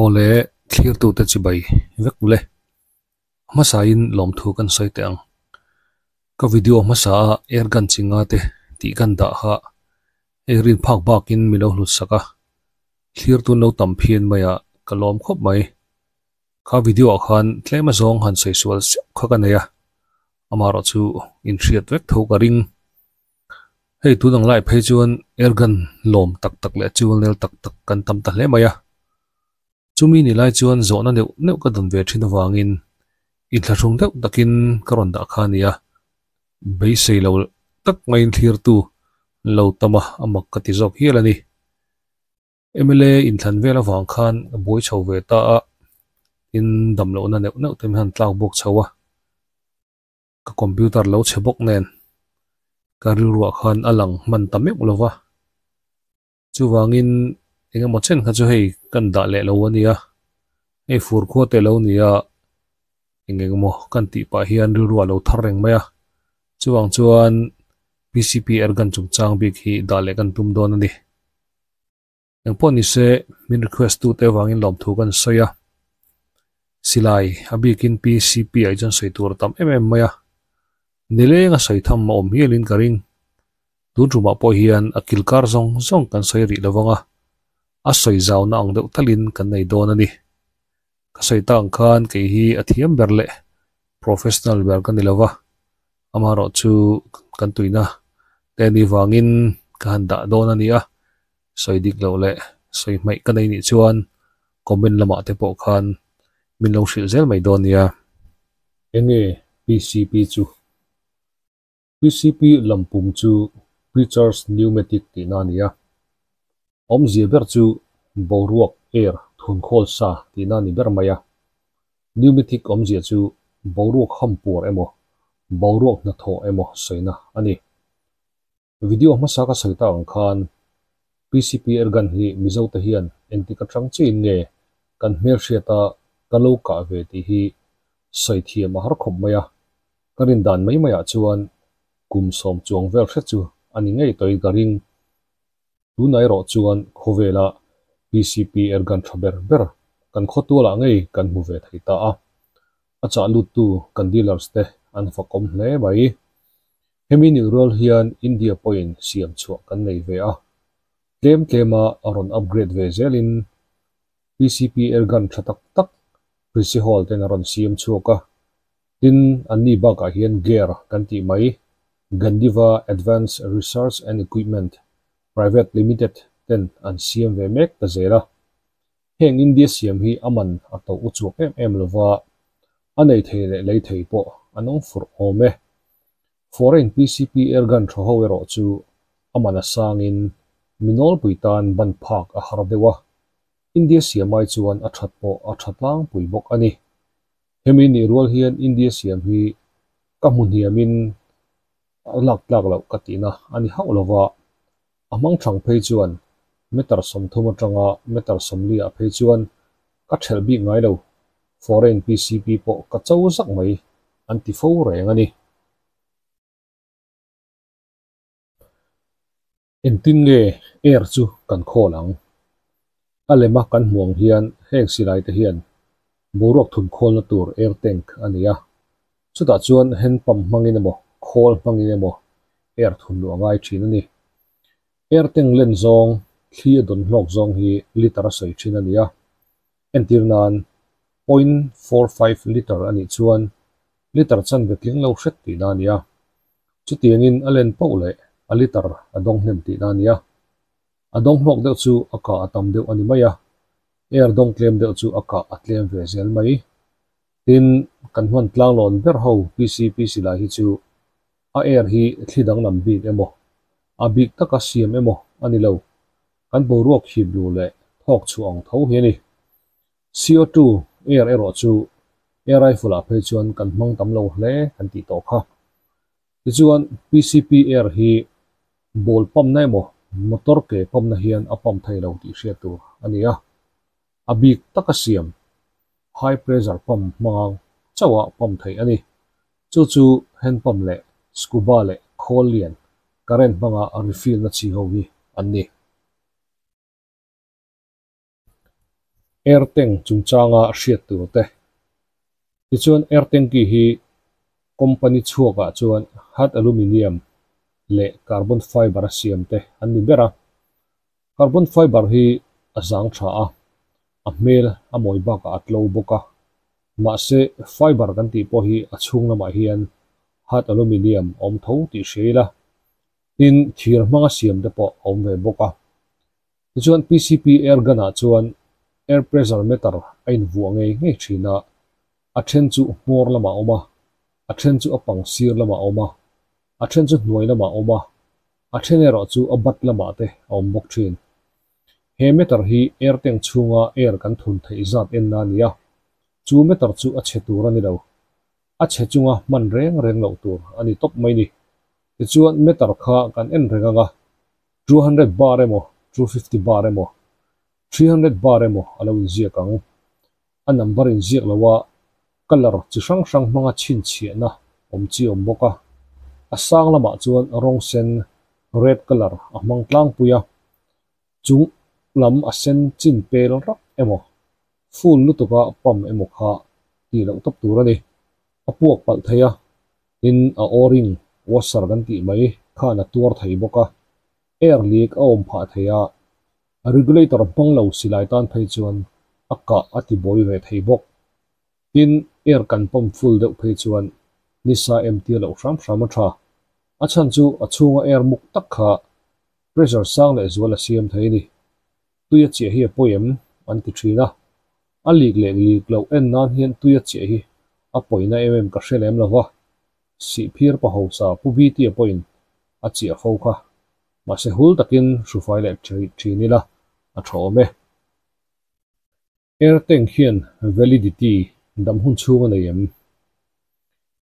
Awle, thlirtute chu bai vek mawle. Hmasain lawmthu kan sawi teh ang. Ka video hmasaa er gan chi nga te tih kan dah kha hei rin phak bakin min lo hlutsak a, thlir tun lo tam phian mai ah ka lawm khawp mai. Kha video ah khan tlem a zawng han sawi sual siau kha ka nei a, amaherawhchu inhriat vek tho ka ring. Hei tun ang lai phei chuan Ergan lawm tak tak leh chivalnel tak tak kan tam ta hle mai a. Chumi ni lai chuan zawhna neuh neuh ka don ve thin avangin i thlahrung deuh takin ka rawn dah kha a nia. Beisei lo tak ngaiin thlirtu lo tam a a mak ka ti zawk hial a ni. Mla inthlan vel avang khan a buai chho ve ta a tin damlohna neuh neuh te hian a han tlak bawk chho a. ka computer lo chhe bawk nen ka rilruah khan a lang hman ta meuh lo va, chuvangin engemaw chen kha chu hei kan dah leh lo a nia, hei fur khuat eih lo nia eng eng emaw kan tih pah hian rilruah lo thar reng mai a, chuvang chuan PCP er kan chungchang bik hi dah leh kan tum dawn a ni. Eng pawh ni se, min request tu te vangin lawmthu kan sawi a, silai a bikin PCP ah hi chuan sawi tur a tam em em mai a, ni leng a sawi tham a awm hial in ka ring, tun tumah pawh hian a kilkar zawng zawng kan sawi rih lo vang a, a sawi zau na ang deuh tal in kan nei dawn a ni. Ka sawi ta ang khan kei hi a thiam ber leh professional ber ka ni lo va, amaherawh chu kan tuihna te ni vangin ka han dah dawn a ni a. sawi dik loh leh sawi hmaih ka nei nih chuan comment lamah te pawh khan min lo hrilh zel mai dawn nia. Enge PCP chu? PCP lam pum chu Preacher's Pneumatic tihna a ni a, awmzia ber chu boruak, air, thun khawl sa tihna a ni ber mai a. Pneumatic awmzia chu boruak ham puar emaw, boruak hnathawh emaw sawina a ni. Video hmasa ka sawi ta ang khan PCP Ergan hi Mizo te hian engti ka tang che in nge kan hmelhriat a ka lo kah ve tih hi sawi thiam a har khawp mai a, ka rin dan mai mai ah chuan kum sawm chuang vel hre chu a ni ngei tawi ka ring. Tunah erawh chuan khawvela PCP Ergan tha ber ber kan khaw tual ah ngei kan hmu ve thei ta a, a chah lut tu kan dealers te an fakawm hle mai. Hemi nih rual hian India pawhin siam chhuah kan nei ve a, tlem tlema a rawn upgrade ve zelin PCP ergan tha tak tak princihal ten a rawn siam chhuak a, tin an ni bakah hian GARE kan tih mai, Gandiva Advanced Research and Equipment Private Limited ten an siam ve mek ta zel a, Heng India siam hi a man a tawh uchuak em em lo va, a nei thei leh lei thei pawh a nawng fur awm e. Foreign PCP Ergan tha ho erawh chu a man a sangin mi nawlpui tan ban phak a har deuh a, India siamai chuan a that pawh a tha tlangpui bawk a ni. Hemi nih rual hian India siam hi ka hmu hniamin a lak tlak loh ka tihna a ni hauh lo va, A hmang thlang phei chuan Meter sawmthum atanga Meter sawmli ah phei chuan ka ṭhelh bik ngai lo, foreign PCP pawh ka cho zak mai an ti fo reng a ni. Engtin nge Air chu kan call ang? A lema kan hmu ang hian heng silaite hian boruak thun khawlna tur Air Tank a ni a, Chutah chuan hand pump hmangin emaw, khawl hmangin emaw air thun luh a ngai thin a ni. Air tank len zawng, thli a dawn hlawk zawng hi litre a sawi thin a ni a. Entîr nân point four five litre a nih chuan litre chanve tling lo hret tihna a ni a. Chutiangin a len pauh leh a litre a dawng hnem tihna a ni a. A dawng hlawk deuh chu a kah a tam deuh a ni mai a, air dawng tlêm deuh chu a kah a tlêm ve zel mai. Tin, kan hman tlanglawn ber ho PCP silai hi chu a er hi thli danglam bik emaw, a bik taka siam emaw a ni lo. Kan boruak khip luh leh thawk chhuah ang tho hi a ni. CO two er erawh chu air rifle-ah phei chuan kan hmang tam lo hle kan tih tawh kha. Tichuan, PCP er hi ball pumpna emaw motor ke pumpna hian a pump thei lo tih hriat tur a ni a. A bik taka siam, high pressure pump hmanga chauha pump theih a ni. Chu chu hand pump leh scuba leh khawl lian current hmanga refill na chhi ho hi an ni. Air tank chungchanga hriat tur te. Tichuan air tanki hi company chhuakah chuan hard aluminium leh carbon fibre a siam te an ni ber a. Carbon fiber hi a zang tha a, a hmel a mawi bakah a tlo bawk a. Mahse, fiber kan tih pawh hi a chhung lamah hian hard aluminium a awm tho tih hre ila, tin, thir hmanga siam te pawh a awm ve bawk a. Tichuan, PCP air gun-ah chuan air pressure meter a invuah ngei ngei thin a, a then chu hmawr lamah a awm a, a then chu a pang sir lamah a awm a, a then chu hnuai lamah a awm a, A then erawh chu a bat lamah te a awm bawk thin. He matter hi Erteng chhunga er kan thun theih zat enna a ni a, chu matter chu a chhe tur a ni lo. A chhe chunga hman reng reng loh tur a ni tawp mai ni. Tichuan matter kha kan en reng ang a, two hundred bar emaw, two fifty bar emaw, three hundred bar emaw a lo inziak ang. a number in ziak lo a, colour chi hrang hrang hmanga chhinchhiahna awm chi awm bawk a, a sang lamah chuan rawng sen, red colour, a hmang tlangpui a, chung lam a sen chin pel rak emaw, full lutuka pump emaw kha tih loh tawp tur a ni. A puak palh thei a, tin a O-ring, washer kan tih mai, khan a tuar thei bawk a, air leak a awm phah thei a, A regulator hmang lo si lai tan phei chuan a kah a ti bawi ve thei bawk. Tin, air kan pump full deuh phei chuan nisa em tir loh hram hram a tha. A chhan chu a chhunga air muk tak kha pressure sang leh zual a siam thei a ni. Tui a chiah hi a pawi em? an ti thin a. A lik leh lik loh en nan hian tui a chiah hi a pawi na em em ka hre lem lo va. Sihphir paho sa Pu Viti-a pawhin a chiah fo kha. Mahse hul takin hrufai leh thin ila a tha awm e. Airtank hian validity dam hun chhung a nei em?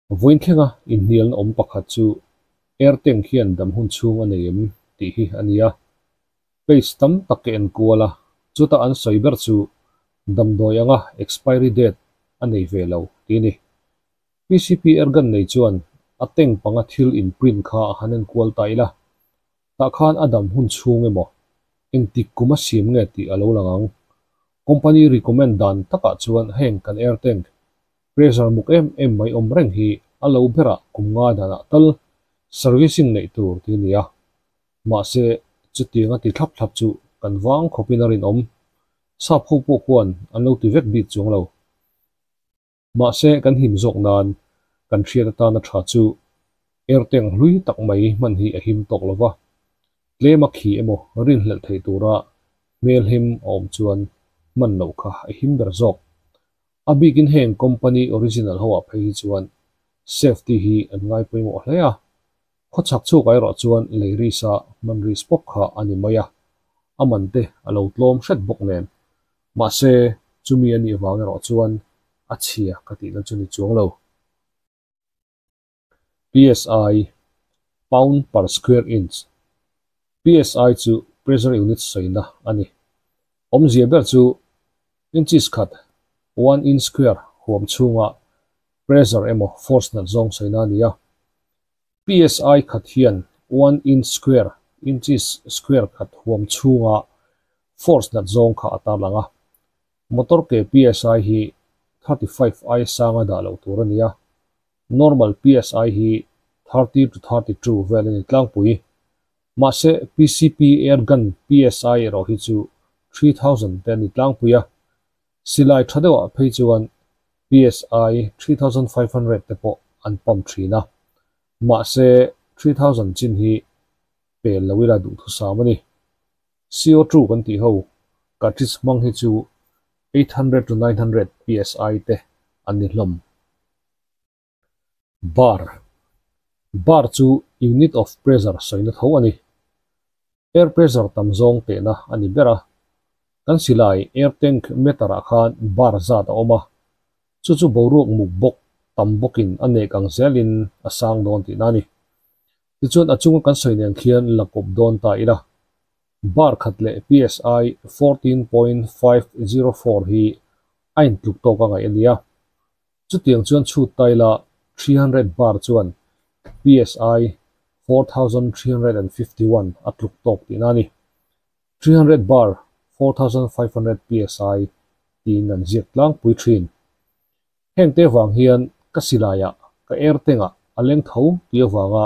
Vawiin thlenga inhnialna awm pakhat chu Airtank hian dam hun chhung a nei em tih hi a nia. Page tam tak ka enkual a, chuta an sawi ber chu damdawi anga expiry date a nei ve lo tih a ni. PCP Ergan nei chuan a tank panga thil in print kha a han en kual ta ila, tah khan a dam hun chhung emaw engtik kum a siam nge tih a lo lang ang. Company recommend dan takah chuan heng kan air tank pressure muk em em mai awm reng hi a lo bera kum ngai danah tal servicing neih tur tih a ni a, mahse chutiang a ti thlap thlap chu kan vang khawpin a rinawm. Sap ho pawh khuan an lo ti vek bik chuang lo. Mahse, kan him zawk nan kan hriat atan a tha chu erteng hlui tak mai hman hi a him tawk lo va. Tlem a khi emaw rinhlelh theih tura hmelhem a awm chuan hman loh kha a him ber zawk. A bikin heng company original ho ah phei hi chuan safety hi an ngai pawimawh hle a, Khaw chhak chhuk ai rawh chuan Leirisa manris bawk kha a ni mai a, a man te a lo tlawm hret bawk nen. Mahse, chumi a nih vang erawh chuan a chhia ka tihna chu ni chuang lo. PSI, Pound per square inch, PSI chu pressure unit sawina a ni. Awmzia ber chu inches khat, one inch square, huam chhunga pressure emaw force nat zawng sawina a ni a. Psi khat hian one inch square, inches square, khat huam chhunga force nat zawng kha a tar lang a. Motor ke psi hi thirty five aia sanga dah loh tur a ni a, normal psi hi thirty to thirty two vel a ni tlangpui. Mahse, PCP air gun psi erawh hi chu three thousand te a ni tlangpui a. Silai tha deuhah phei chuan PSI three thousand five hundred te pawh an pump thin a, mahse three thousand chin hi pel lo ila duhthusam a ni. Co two kan tih ho cartridge hmang hi chu eight hundred to nine hundred PSI te an ni hlawm. Bar, Bar chu unit of pressure sawina tho a ni. Air pressure tam zawng tehna a ni ber a. Kan silai air tank meter ah khan bar zat a awm a, chu chu boruak muk bawk tam bawkin a nek ang zelin a sang dawn tihna a ni. Tichuan a chunga kan sawi nen khian la kawp dawn ta ila. Bar khat leh psi fourteen point five zero four hi a intluk tawk a ngaih a nia. Chutiang chuan chhut tai la, three hundred bar chuan psi four thousand three hundred and fifty one a tluk tawk tihna a ni. Three hundred bar four thousand five hundred psi tiin an ziak tlangpui thin. Heng te vang hian ka silaiah ka ertengah a leng tho ti avanga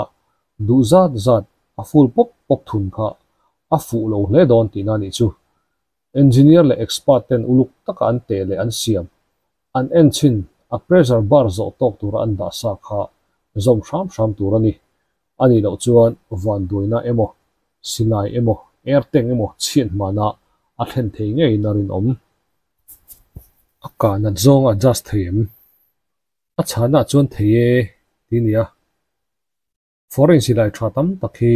duh zat zat a full pawp pawp thun kha a fuh lo hle dawn tihna a nih chu. Engineer leh expert ten uluk taka an teh leh an siam, an en chin a pressure bar zawh tawk tura an dah sa kha zawm hram hram tur a ni. A nih loh chuan vanduaina emaw, silai emaw, erteng emaw chhian hmana a thlen thei ngeiin a rinawm. A kahna zawng a adjust thei em? A chhana chuan thei e, ti a ni a. Foreign silai tha tam tak hi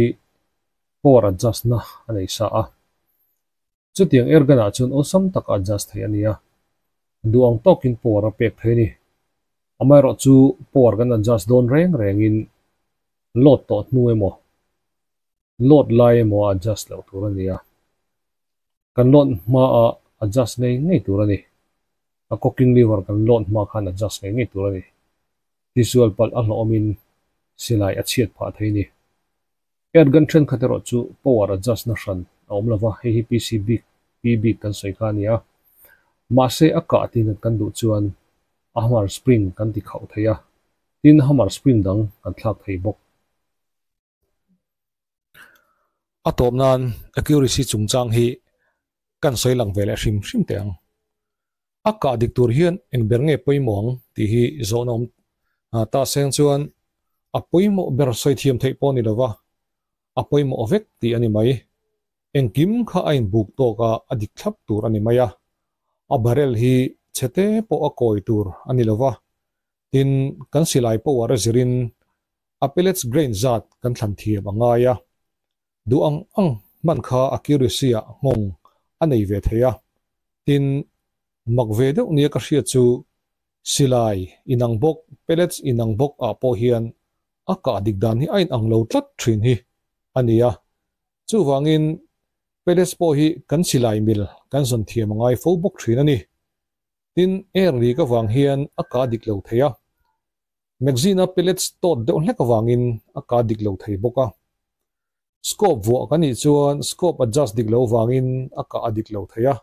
power adjust na a nei sa a. Chutiang Ergan ah chuan awesome taka adjust theih a nia. A duh ang tawk in power a pek thei ni. Amaherawh chu power kan adjust dawn reng reng in load tawh hnu emaw load lai emaw a adjust loh tur a nia. Kan load hma a adjust ngei ngei tur a ni. A cooking lever kan load hma khan adjust ngei ngei tur a ni. Tisual palh a hlawmin silai a chhiat phah thei ni. Erdogan thenkhat erawh chu power adjust na hran a awm lova, hei hi PC bik pi bik kan sawi kha a nia. Mahse a kah tihnghat kan duh chuan Ahmar Spring kan ti khauh thei a, tin Ahmar Spring dang kan thlak thei bawk. A tawp nan accuracy chungchang hi kan sawi lang ve leh hrim hrim teh ang. A kah dik tur hian eng ber nge pawimawh ang tih hi zawhna awm Tahseng chuan a pawimawh ber sawi thiam theih pawh a ni lova, a pawimawh vek tih a ni mai. Engkim kha a inbuk tawk a, a dik thlap tur a ni mai a. A barrel hi chhete pawh a kawi tur a ni lova, tin kan silai pawh ah rezirin Apelets grain zat kan thlan thiam a ngai a, duh ang ang hman kha accuracy-a nghawng a nei ve thei a. Tin, mak ve deuh nia ka hriat chu, silai inang bawk, pellets inang bawk ah pawh hian a kah dik dan hi a inang lo tlat thin hi a nia. Chuvangin, pellets pawh hi kan silai mil kan zawn thiam a ngai fo bawk thin a ni. Tin, early ka vang hian a kah dik lo thei a. Magazine-a pellets tawt deuh hlek avangin a ka dik lo thei bawk a. Scope vuah ka nih chuan scope adjust dik lo vangin a ka a dik lo thei a.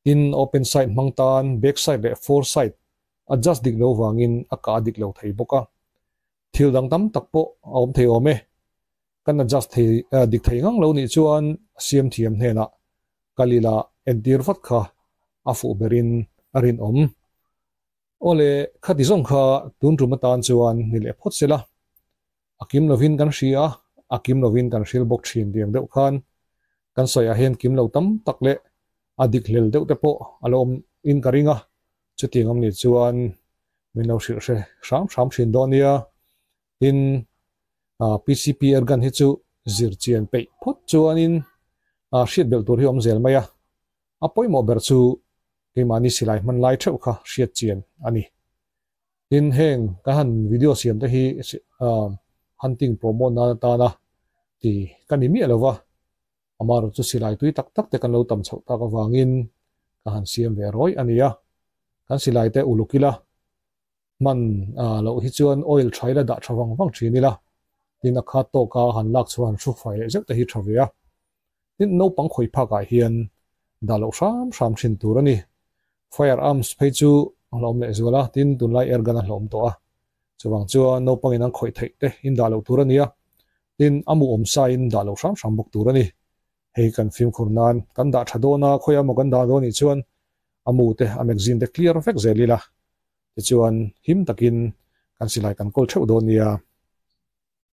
Tin, open side hmang tan back side leh fore side adjust dik lo vangin a ka a dik lo thei bawk a. Thil dang tam tak pawh a awm thei awm e. Kan adjust thei dik thei ngang lo nih chuan siamthiam hnenah kal ila entir vat kha a fuh berin a rinawm Awle, khati zawng kha tun tum atan chuan ni leh phawt se la, a kim lovin kan hria a, a kim lovin kan hril bawk thin diang deuh khan. Kan sawiah hian kim lo tam tak leh a dik hlel deuh te pawh a lo awm in ka ring a, chuti ngam nih chuan min lo hrilh hre hram hram thin dawn nia. Tin, PCP ergan hi chu zir chian peih phawt chuanin hriat belh tur hi awm zel mai a, A pawimawh ber chu keimahni silai hman lai theuh kha hriat chian a ni. Tin, heng kan han video siam te hi hunting promote nan atana ti ka ni miah lo va, amarawh chu silai tui tak tak te kan lo tam chhoh tak avangin ka han siam ve rawi a nia. Kan silai te uluk ila, hman loh hi chuan oil tha ila dah tha vang vang thin ila tin a khat tawk a han lak chhuah han hru fai leh zeuh te hi tha ve a tin naupang khawi phak ah hian dah loh hram hram thin tur a ni fire arms phei chu a hlawm leh zual a tin tunlai air gun a hlawm tawh a chuvang chuan naupang in an khawih theih te in dah loh tur a ni a tin a muhawm sa in dah loh hram hram bawk tur a ni hei kan fimkhur nan kan dah tha dawn a khawi a maw kan dah dawn nih chuan A mu te, a magazine te clear vek zel ila, tichuan him takin kan silai kan kawl theuh dawn nia.